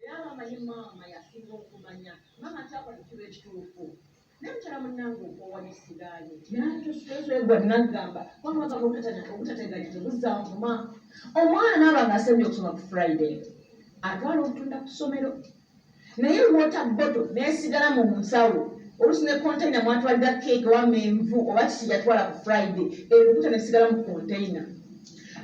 Era maama ye maama yasinga okumanya. Maama kyapa tukiba ekituufu. Naye mukyala munnange okoowa n'essigaali. Yantoswezwegwa nnaggamba wamma gaba obutatanya obutategaanya tebuzza nvuma. Omwana naaba ng'asembye okusoma ku Friday atwala obutunda ku ssomero naye lwota bboto n'esigala mu nsawo oluusi ne konteyina mwatwalira keeke oba menvu oba kiki yatwala ku Friday ebibuta n'esigala mu konteyina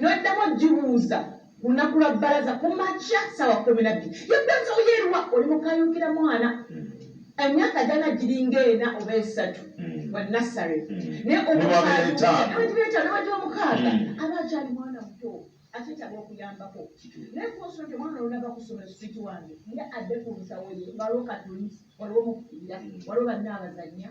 n'oddamu ogibuuza ku lunaku lwa bbalaza ku makya ssaawa kumi na bbiri yaddanza oyeeruwa oli mukayuukira mwana hmm. emyaka gyana giringa ena oba esatu hmm. wa nassary hmm. naye omukaaibeetanobadi omukaaga aba akyali mwana muto akyetaaga okuyambako naye kunsoo ti omwana olunava kusoma eswit wange nga adde ku nsawo ye waliwo katuli waliwo mukubira waliwo banna abazanya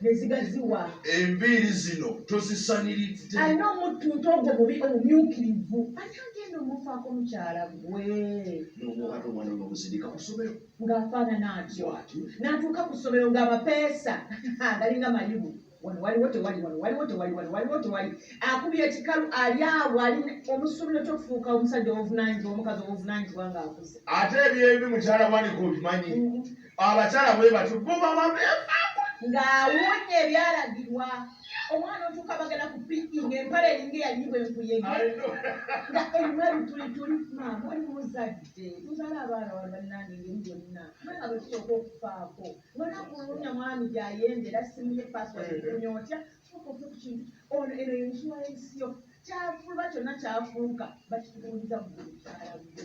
nezigaziwa enviiri zino tozisaniridde alina omuttu nti ogwo mubi omumyukirivu ani agenda omufaako mukyala gwe nomuwala omwana nomuzirika ku ssomero ng'afaanana atyo n'atuuka ku ssomero ng'amapeesa galinga mayibu wano waliwo tewali wano waliwo tewali wano waliwo tewali akubira ekikalu ali awo ali omusuubira otya okufuuka omusajja owovunanyizibwa omukazi owovunanyizibwa ng'akuze ate ebyembi mukyala wanika obimanyi mm-hmm. abakyala bwe batyo bo baba beefaako ng'awunya ebyalagirwa omwana otuuka bagenda ku piki ng'empala eringa eyanyibwa enkuyege nga erimu ebitulituli maama oli muzadde muzala abaana wano bannange ngeri yonna mwana bwe tusooka okufaako mwana kulunya mwami gy'ayenda era simuye pasiwadi kunya otya sooka ofe ku kintu ono eno yensuwa y'ensi yo kyafulwa kyonna kyafuuka bakitubuuliza mu mukyala gwe